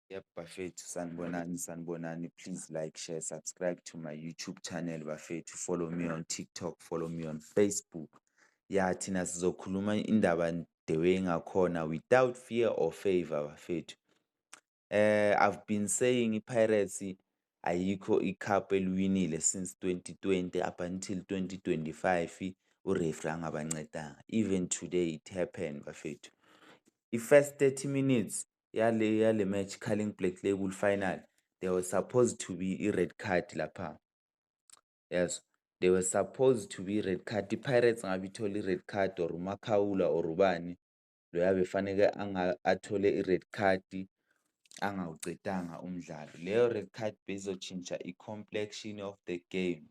Yebo bafethu sanibonani sanibonani please like share subscribe to my YouTube channel bafethu follow me on TikTok follow me on Facebook ya thina sizokhuluma indaba the way ngakhona without fear or favor bafethu eh I've been saying iPirates ayikho icup eliwinile since 2020 up until 2025 ureferee angabancedanga even today it happened bafethu i-first 30 minutes yale yale match Carling Black Label final they were supposed to be i-red card lapha yes they were supposed to be i-red card i-pirates ngabe ithole i-red card or umakhawula or ubani loya befaneke athole i-red card angawucedanga umdlalo leyo red card beyizotshintsha i-complexion of the game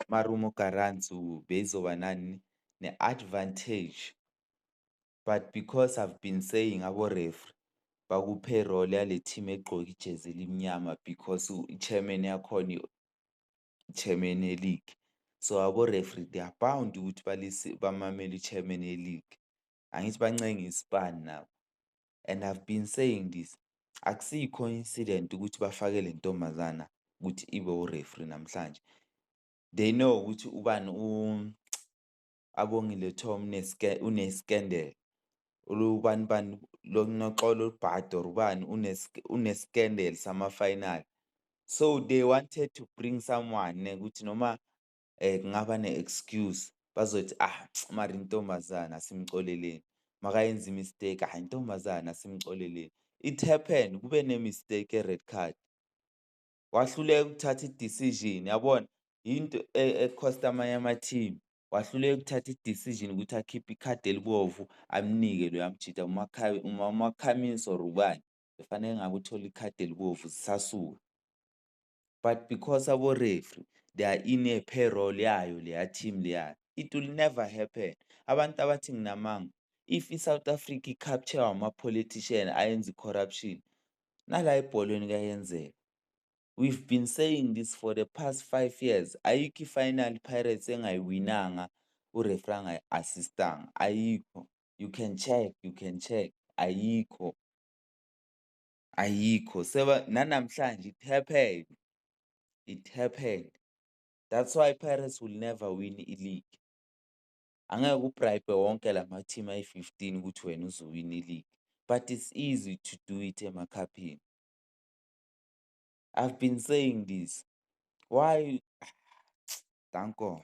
marumo garantsu beyizoba nani ne-advantage but because I've been saying abo referee bakuphe role yale team egqoke ijezi elimnyama because i-chairman yakhona i-chairman ye-league so abo referee they are bound ukuthi bamamele i-chairman ye-league angithi bancenge isipani nabo and I've been saying this akusiyi coincident ukuthi bafake le ntombazana ukuthi ibe ureferee namhlanje they know ukuthi ubani abongile tho unescandal ulubani bani lonoxolo olubhadi or ubani unescandal sama-final so they wanted to bring someone ukuthi noma um kungaba ne-excuse bazothi ah mari intombazane asimxoleleni makayenza imistake ah intombazane asimxoleleni it happened kube ne-mistake e-red card wahluleka ukuthatha i-decision yabona yinto ekhosta e, amanye ama-team wahluleka ukuthatha i-decision ukuthi akhiphe ikhadi elibovu amnike loyo amjida umakhamis or ubani befanele ngabe uthole ikhadi elibovu zisasuka but because abo-refree they are in a payroll yayo leya team leyayo it will never happen abantu abathi nginamanga if i-south africa i-capture wama-politician ayenza i-corruption nala ebholweni kuyayenzeka. We've been saying this for the past five years, ayikho i-final Pirates engayiwinanga ureferee angayi-assistanga, ayikho. You can check, you can check, ayikho. Ayikho, seba nanamhlanje it happened, it happened. That's why Pirates will never win i-league. Angeke ubribe wonke lama team ayi 15 ukuthi wena uzowina iligi but it's easy to do it emakhaphini. I've been saying this. Why? Danko.